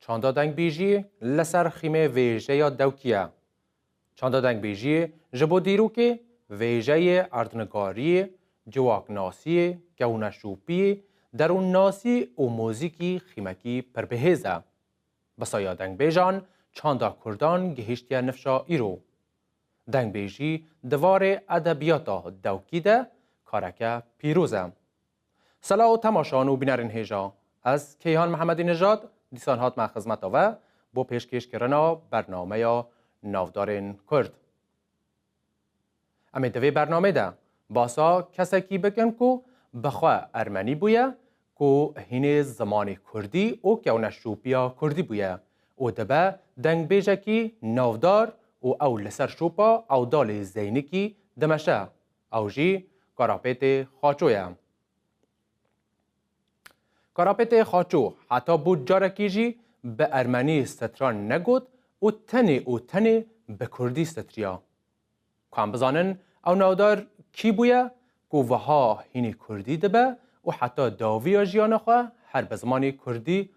Çanda dengbêjî li ser xîmê vêjeya dewkî ye. Çanda dengbêjî ji bo dîrokê, vêjeyê, erdnigarî, ciwaknasî, kewneşopî, derûnnasî û muzîkî xîmekî pir bihêz e. Bi saya dengbêjan çanda kurdan gihîştiye nifşa îro. Dengbêjî di varê edebiyata dewkî de kareke pîroz e. Sela û temaşan û bînerên hêja. Ez Keyhan Mihemedî Nijad dîsan hatime xizmeta we bo pêşkêşkirina bernameya Navdarên Kurd. Em ê di vê bernameyê de basa kesekî bikin ku bi xwe ermenî bûye, ku hînê zimanê kurdî û kewneşopiya kurdî bûye û dibe dengbêjekî navdar û ew li ser şopa Ewdalê Zeynikî dimeşe Ew jî Karapêtê Xaço ye. Karapêtê Xaço heta bû carekî jî bi ermenî stran negot û tenê û tenê bi kurdî stitriya. Ku em bizanin ew navdar kî bûye ku wiha hînî kurdî dibe û heta dawiya jiyana xwe her bi zimanê kurdî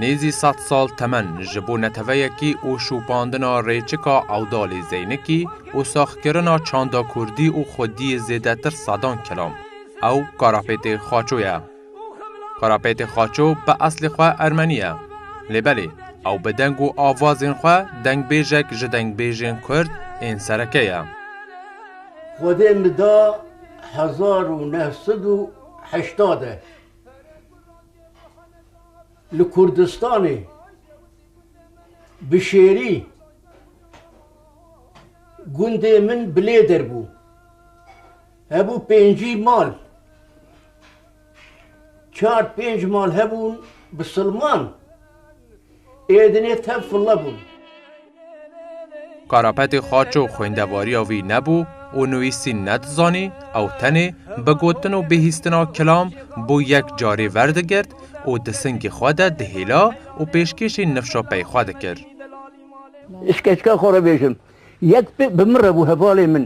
Nêzî sed sal temen ji bo neteweyekî û şopandina rêçika ewdalê Zeynikî û saxkirina çanda kurdî û xwediyê zêdetir sedan kilam. Ew karapêtê Xaço ye. Karapetê Xaço bi eslê xwe Ermenî ye. Lê belê ew bi deng û avazên xwe dengbêjek ji dengbêjên Kurd ên sereke ye. Xwedê min da hezar û neh sed û heştad de li Kurdistanê bi şêrî gundê min bilêdir bû. Hebû pêncî mal. Çar pênc mal hebûn bi silman ê dinê tev file bûn. Karapetê xaço xwêndevariya wî nebû û nûîsîn nedizanî, ew tenê bi gotin û bihîstina kilam bo yek carê verdigirt û di singê xwe de dihêla û pêşkêşî nifşa pey xwe dikir. Ji keska xwe re bêjim. Yek bi min re bû hevalê min.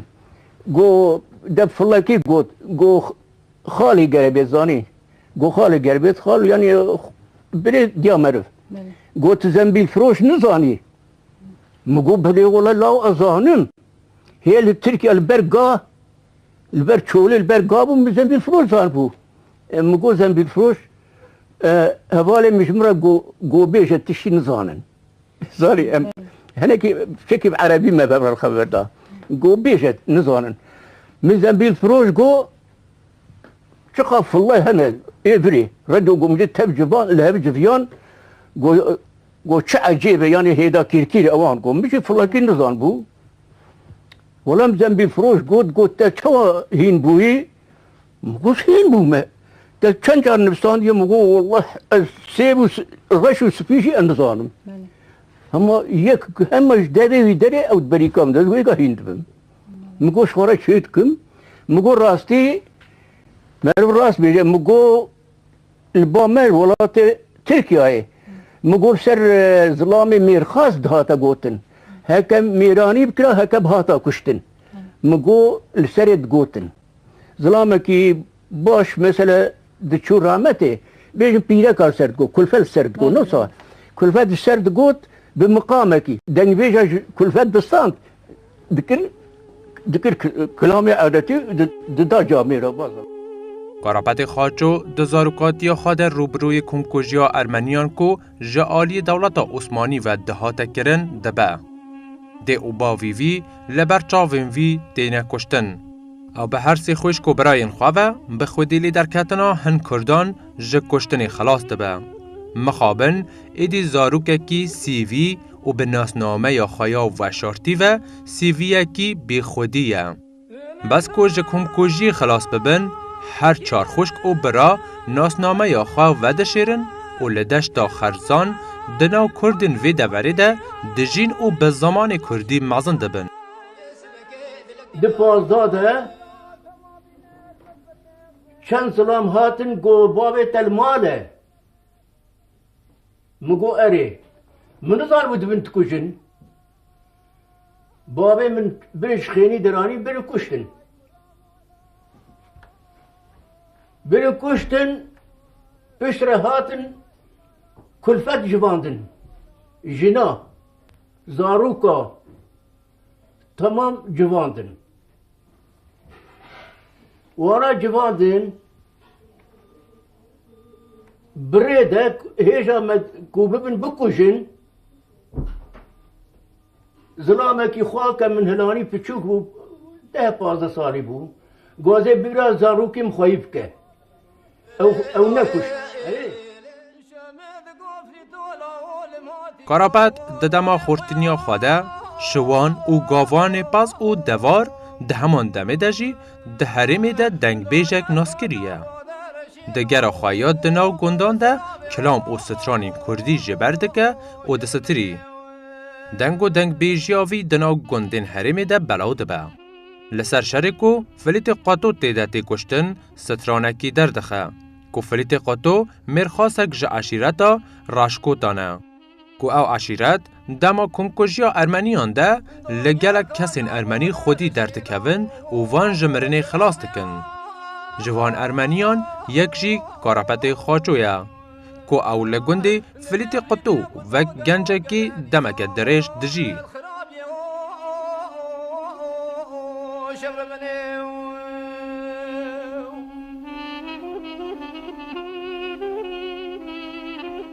Go de filekî got, go xalî gere bê zanî. Go xalî ger bêt xal yanî birê diya meriv. Go tu zembîlfiroş nizanî. Min go bilê wele law ez zanim. Hê li Tirkiye li ber ga li ber çolê li ber ga bû min zembîlfiroş zanibû. Min go zembîlfiroş hevalê min ji min re go bêje tu şî nizanin. Zanî em hinekî fikî bi erebî me ver xeber da. Go bêje nizanin. Min zembîl firoş go çiqa fullay hene ê virê. Redo go min dê tev civan li hev civiyan go go çi ecêbe yanê hêda kîrkîrê ewan go min jî fullakî nizan bû. Wala min zembîl firoş got got te çawa hîn bûyî Min got hîn bû me. Te çend car nivîsandiye? Min got welleh ez sêr û reş û spî jî em nizanim. Hema yek hema ji derê wî derê ew di berîka min de ez wêga hîn dibim. Min got ji xwe re çê dikim. Min got rastî meriv rast bêje. Min got li ba me li welatê Tirkiyeyê min got ser zilamê mêrxas dihate gotin. Heke mêranî bikira heke bihata kuştin. Min got li serê digotin. Zilamekî baş mesele diçû rametê bêjin pîreka ser digot, kulfel ser digot. Nosa kulfel di ser digot bi miqamekî dengvêja ji kulfel distand dikir dikir kilamê edetî dida camê re baza. Karapetê Xaço di zarokatiya xwe de rûbirûyê komkujiya Ermeniyan ku ji aliyê dewleta Osmanî ve dihate kirin dibe. Dê û bavî vî li ber çavên vî têne kuştin. Ew bi her sê xwişk û birayên xwe ve bi xwedî li derketina hin Kurdan ji kuştinê xilas dibe. Mixabin êdî zarokekî CV û bi nasnameya xwe ya weşartî ve CVyekî bêxwedî ye. Bes ku ji komkujiyê xilas bibin, her çar xwişk û bira nasnameya xwe vedişêrin û li deşta Xerzan di nav Kurdên vê deverê de dijîn û bi zimanê Kurdî mezin dibin. Di Pazdeh de çend zilam hatin ku bavê te li mal e? Min got erê. Min nizanibû dibin dikujin. Bavê min bin ji xênî diranî bin û kuştin. Bin û kuştin pişt re hatin kulfet jivandin. Jina, zarûka temam civandin. Wana civandin birê de hêja me ku bibin bikujin Zilamekî xwe ke min hilanî piçûk bû, deh pazdeh salî bû, gozê bîra zarokîm xweyî bike. Ew nekuşt. Karapet di dema xurtiniya xwe de şiwan û gavanê pez û devar di heman demê de jî di herêmê de dengbêjek nas kiriye. Di gera xwe ya di nav gundan de kilam û stranên kurdî ji ber dike û disitirî. Deng û dengbêjiya vî di nav gundên herêmê de belaw dibe. Li ser şerê ku Filîtê Qeto tê de tê kuştin stranekî derdixe ku Filîtê Qeto mêrxasek ji eşîreta Raşkotan e. ku ew eşîret dema komkujiya Ermeniyan de li gelek kesên Ermenî xwedî derdikevin û van ji mirinê xilas dikin. Ji van Ermeniyan yek jî Karapetê Xaço ye ku ew li gundê Filîtê Qutû wek gencekî demeke dirêj dijî.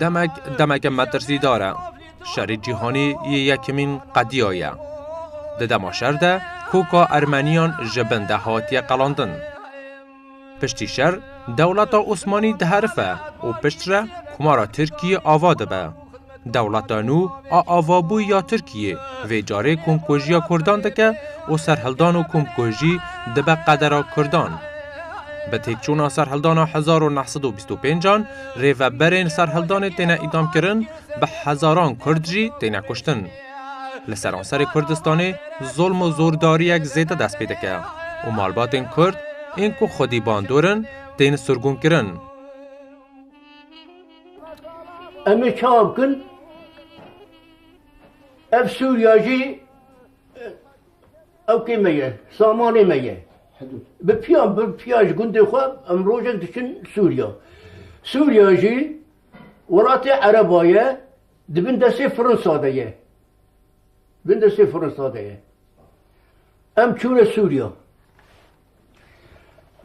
Demek demeke metirsîdar e. Şerê cîhanî yê yekemîn qediya ye. Di dema şer de koka ermeniyan ji bin de hatiye qelandin. Piştî şer dewleta Osmanî diherife û piştre Komara Tirkiyê ava dibe. Dewleta nû a avabûyî ya Tirkiyê vê carê komkujiya Kurdan dike û serhildan û komkujî dibe qedera Kurdan. Bi têkçûna serhildana hezar û neh sed û bîst û pênc an rêveberên serhildanê têne îdamkirin, bi hezaran Kurd jî têne kuştin. Li seranserê Kurdistanê zolm û zordariyek zêde dest pê dike û malbatên Kurd ên ku xwedî bandor in tên sirgûnkirin. Em ê çawa bikin? Ev Sûriya jî ewkê me ye, samanê me ye. Bi piyan bi piya ji gundê xwe em rojek diçin Sûriya. Sûriya jî welatê Ereba ye, Di bin destê Frinsa de ye. Bin destê Frinsa de ye. Em çûne Sûriya.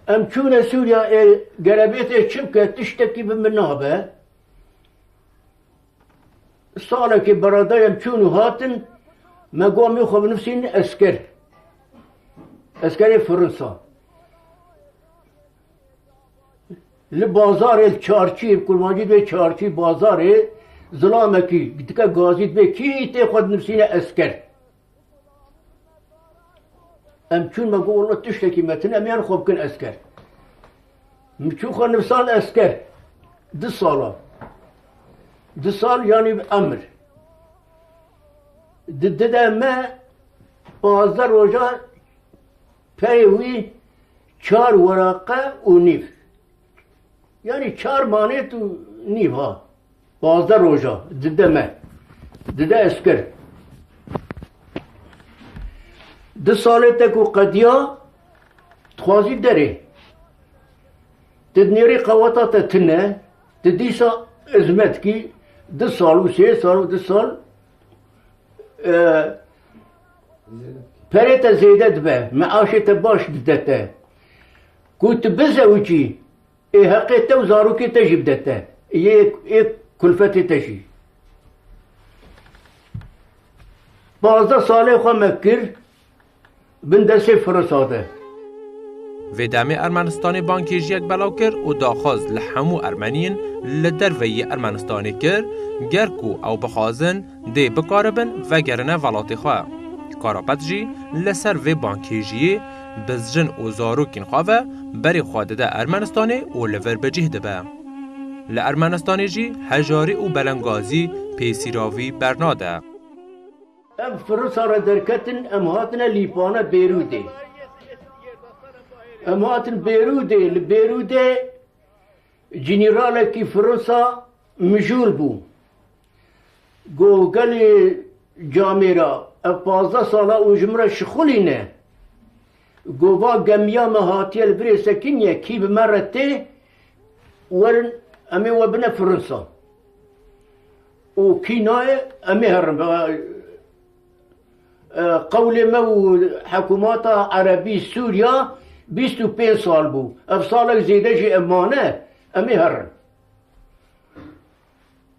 Em çûne Sûriya ê gerebêtê çi bike tiştekî bi min nabe. Salekê beradayem çûn û hatin me gomê xwe binivîsîn esker. Eskerê Frinsa. Li bazarê li çarçî kurmancî dibê çarçî bazarê zilamekî dike gazî dibê kî tê xwe dinivîsîne esker. Em çûn me got walla tiştekî me tune em yan xwe bikin esker. Min çû xwe nivisan esker du salan. Du sal yanî bi emir. Di dide me pazdeh roja Peyê wî çar weraqe û nîv. Yanî çar manêt û nîv ha. Pazdeh roja dide me. Dide ez kir. Di salê te ku qediya dixwazî derê. Ti nêrî qeweta te tune, ti dîsa hizmet kî du sal û sê sal û du sal Perê te zêde dibe, meaşê te baş dide te. Ku tu bizewicî, ê heqê te û zarokê te jî bide te. Yê ê kulfetê te jî. Pazdeh salê xwe me kir bin destê Firosa de. Vê demê Ermenistanê bangkêjiyek belav kir û daxwaz li hemû Ermeniyên li derve yê Ermenistanê kir ger ku ew bixwazin dê bikaribin vegerine velatê xwe. Karapet jî li ser vê bankêjiyê bi jin û zarokên xwe ve berê xwe dide Ermenistanê û li vir bi cih dibe. Li Ermenistanê jî hejarî û belengazî pêsîravî bernade. Ev Firûsa re derketin em hatine Lîpane Bêrûdê. Em hatin Bêrûdê, li Bêrûdê cinîralekî Firûsa mijûl bû. Goh gelê camê ra ev pazdeh sala û ji min re şixulî ne. Goh va gemiya me hatiye li virê sekiniye kî bi me re tê werin em ê we bine Firinsa û kî nayê em ê herin bi qewlê me û hikûmata Erebî Sûriya bîst û pênc sal bû. Ev salek zêde jî ev mane em ê herin.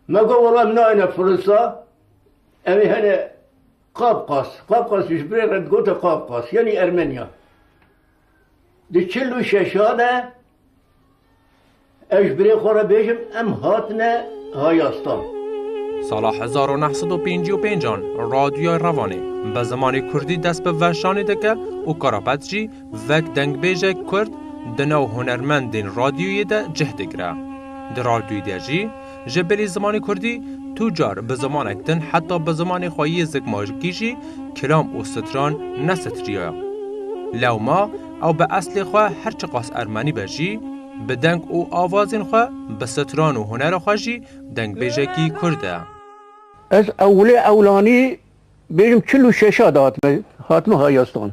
Me got wela em nayêne Firisa, em ê hene Qafqas. Qafqas ji birê re digote Qafqas, yanî Ermenya. Di çil û şeşa de ez ji birê xwe re bêjim em hatine Hayastan. Sala hezar û neh sed û pêncî û pêncan Radyoya Revanê bi zimanê Kurdî dest bi veşanê dike û Karapet jî Vek dengbêjek Kurd di nav hunermendên radyoyê de cih digire. Di radyoyê de jî ji bilî zimanê Kurdî tu car bi zimanek din heta bi zimanê xwe yê zikmakî jî kilam û stran nesitiriye. Lewma ew bi eslê xwe her çiqas ermenî be jî bi deng û avazên xwe, bi stran û hunera xwe jî dengbêjekî Kurd e. Ez ewilê ewlanî bêjim çil û şeşa de hatime hatime hayastan.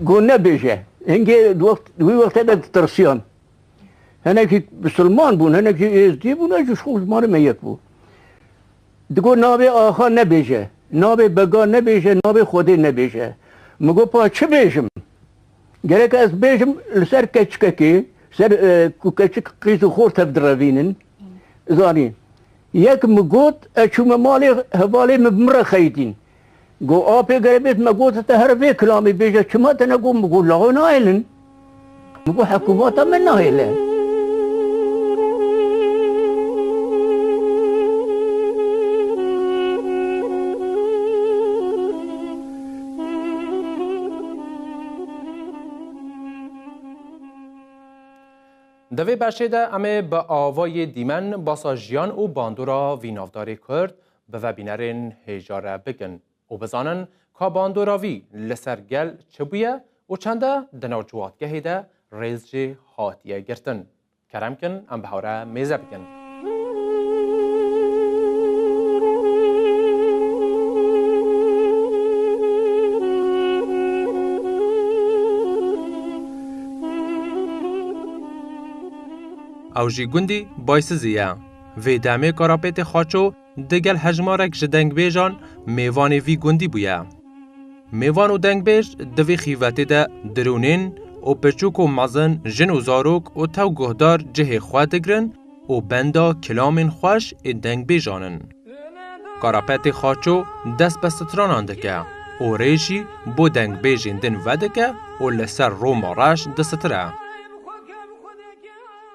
Go nebêje. Hingê wî wextê de ditirsiyan. Hinekî misilman bûn, hinekî êzdî bûn, ji xwe ji malê me yek bû. Digot navê axa nebêje, navê bega nebêje, navê Xwedê nebêje. Min got pa çi bêjim? Gereke ez bêjim li ser keçikekê, ser ku keçik qîz û xort hev direvînin, zanîn. Yek min got ez çûme malê hevalê min bi min re xeyitîn. Go apê gere bêt me gote te here vê kilamê bêje çima te ne got min got laxo nahêlin. Min got hekumata me nahêle. Di vê beşê de em ê bi awayê dîmen basa jiyan û bandora vî navdarê Kurd, bi vebînerên hê jare bikin û bizanin ka bandora vî li ser gel çi bûye û çende di nav ciwatgehê de rêz jê hatiye girtin. Kerem kin em bi hew re mêze bikin. Ew jî gundî Baysizî ye. Vê demê Karapêtê Xaço digel hejmarek ji dengbêjan mêvanê vî gundî bûye. Mêvan û dengbêj di vî xîvetê de dirûnên û piçûk û mezin, jin û zarok û tew guhdar cihê xwe digirin û benda kilamên xweş ê dengbêjan in. Karapetê Xaço dest bi stranan dike û rê jî bo dengbêjên din vedike û li ser Roma reş distire.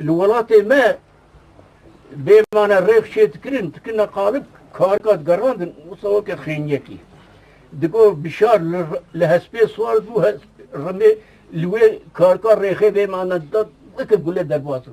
Li welatê me bêmane rêx çê dikirin, dikirine qalib karika digerandin wisa weke xêniyekî. Digo bişar li hespê swar bû rimê li wê karika rêxê bêmane da weke gule derbas bû.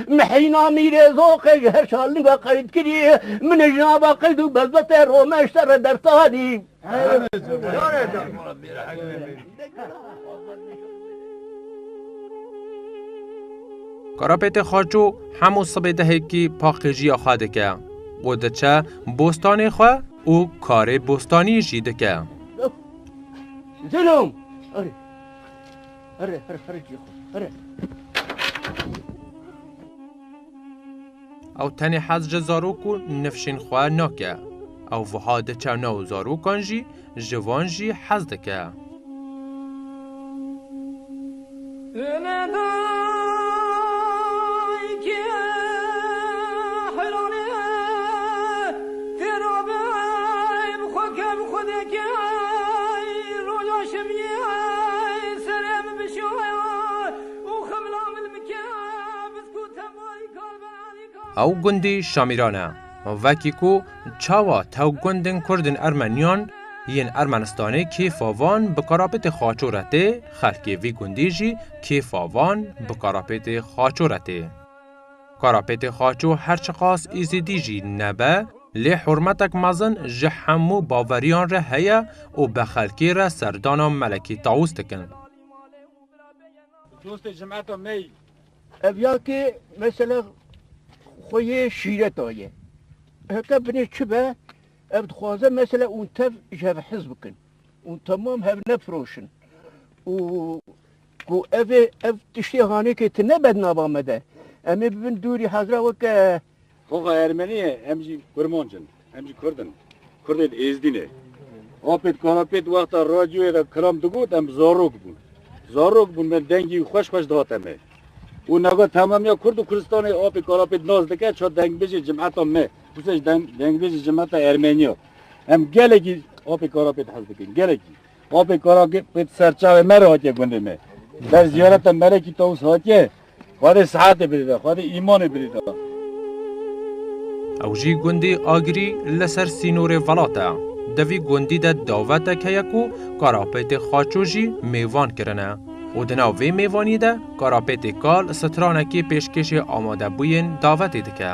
Mehîna Mîrêzoqê ji her şalinga qeydkirî min ji nava qeyd û bezbetê romeşte re dersanî. Karapêtê Xaço hemû sibê dehekî paqijîya xwe dike û diçe bostanê xwe û karê bostanî jî dike. Hırı hırı hırı cî xwe hırı. Ew tenê hez ji zarok û nifşên xwe nake. Ew wiha diçe nav zarokan jî ji van jî hez dike. Ew gundî Şamîran e. Vekî ku çawa tew gundên Kurd ên Ermeniyan yên Ermenistanê kêfa van bi karapêtê xaço re tê, xelkê vî gundî jî kêfa van bi karapêtê xaço re tê. Karapêtê Xaço her çiqas Êzidî jî nebe, lê hurmetek mezin ji hemû baveriyan re heye û bi xelkê re serdana Melekî Tawus dikin. Dostê cemeta me yî. Ev ya ki mesela xwe yê şîret aye. Heke binê çi be, ev dixwaze mesela û tev ji hev hez bikin û temam hev nefiroşin û Ku ev ê ev tiştê hanekê ti ne bed nava me de. Em ê bibin dûrî hezra weke. Xoxa Ermenî ye, em jî Kurmanc in. Em jî Kurd in. Kurdê di Êzdînê. Apê di kanapê di wexta radyoyê de kilam digot em zarok bûn. Zarok bûn me dengî xweş xweş dihate me. Û nava temamiya Kurd û Kurdistanê apê kanapê di nas dike ça dengbêjê cimeta me. Dûsej dengbêjê cimeta Ermeniya. Em gelekî apê kanapê di hez dikin. Gelekî. Bavê kara ki pê di ser çavê me re hatiye gundê me. Ber ziyareta Melekî Tawus hatiye, Xwedê sihetê bidida, Xwedê îmanê bidida. Ew jî gundî Agirî li ser sînorê Velat e. Di vî gundî de davetek heye ku Karapêtê Xaço jî mêvan kirine û di nav vê mêvanî de Karapêtê Kal stranekî pêşkêşê amadebûyên davetê dike.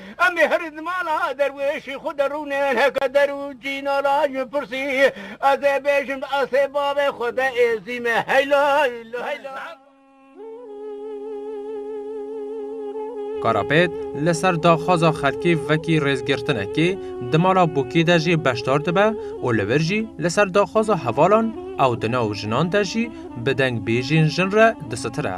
Em ê herî di mala derwêşî xwe de rûnin heke der û cî nalan ji pirsî ez ê bêjim di asê bavê xwe de ê zîme heyla heyla heyla. Karapêt li ser daxwaza xelkî vekî rêzgirtinekê di mala Bûkî de jî beşdar dibe û li vir jî li ser daxwaza hevalan ew di nav jinan de jî bi deng bêjên jin re disitire.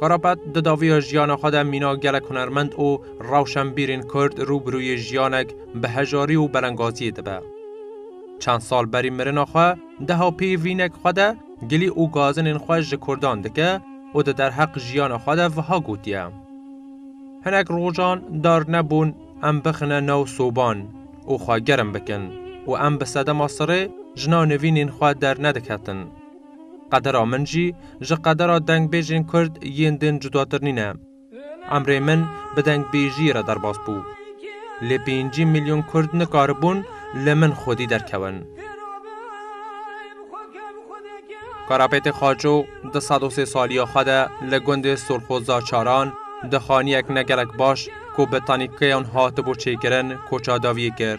Karapet di daviya jiyana xwe de mîna gelek hunermend û rewşenbîrên Kurd rû bi rûyê jiyanek bi hejarî û belengaziyê dibe. Çend sal berî mirina xwe deha pê vînek xwe de gilî û gazinên xwe ji Kurdan dike û di derheq jiyana xwe de viha gotiye, Hinek rojan dar nebûn em bixine nav soban û xwe germ bikin û em bi sedema sirê jina nivînên xwe dernediketin. Qedera min jî ji qedera dengbêjên Kurd yên din cudatir nîne. Emrê min bi dengbêjiyê re derbas bû. Lê pêncî milyon Kurd nikaribûn li min xwedî derkewin. Karapêtê Xaço di sed û sê saliya xwe de li gundê Sorxoza Çaran di xaniyek ne gelek baş ku bi tanîkeyan hatibû çêkirin koça dawiyê kir.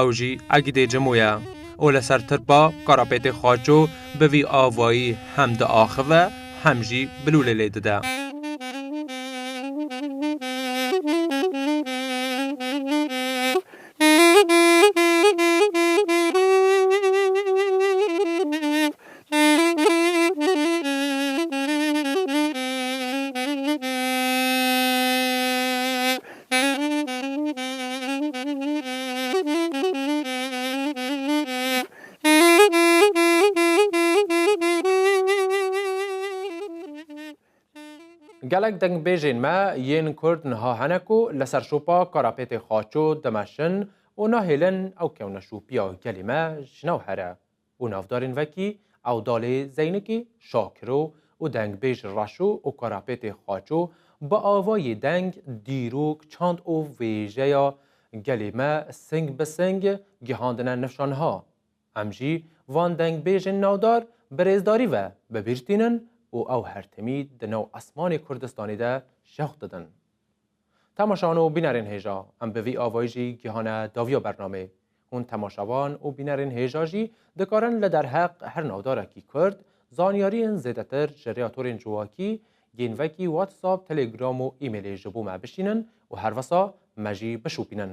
Ew jî egîdê cimo ye û li ser tirpa karapêtê xaço bi vî avayî hem diaxive hem jî bilûlê lê dide. Gelek dengbêjên me yên Kurd niha hene ku li ser şopa Karapêtê Xaço dimeşin û nahêlin ew kewneşopiya gelê me ji nav here. û navdarên vekî Ewdalê Zeynikî, Şakiro û dengbêj Reşo û Karapêtê Xaço bi avayê deng, dîrok, çand û wêjeya gelê me sing bi sing gihandine nifşa niha. Em jî van dengbêjên navdar bi rêzdarî ve bi bîr tînin û ew her timî di nav esmanê Kurdistanê de şewq didin. Temaşan û bînerên hêja, em bi vî avayî jî gihane daviya bernamê. Hûn temaşavan û bînerên hêja jî dikarin li derheq her navdarekî Kurd, zanyariyên zêdetir ji rêya torên civakî, gênvekî, WhatsApp, Telegram û emailê ji bo me bişînin û herwisa me jî bişopînin.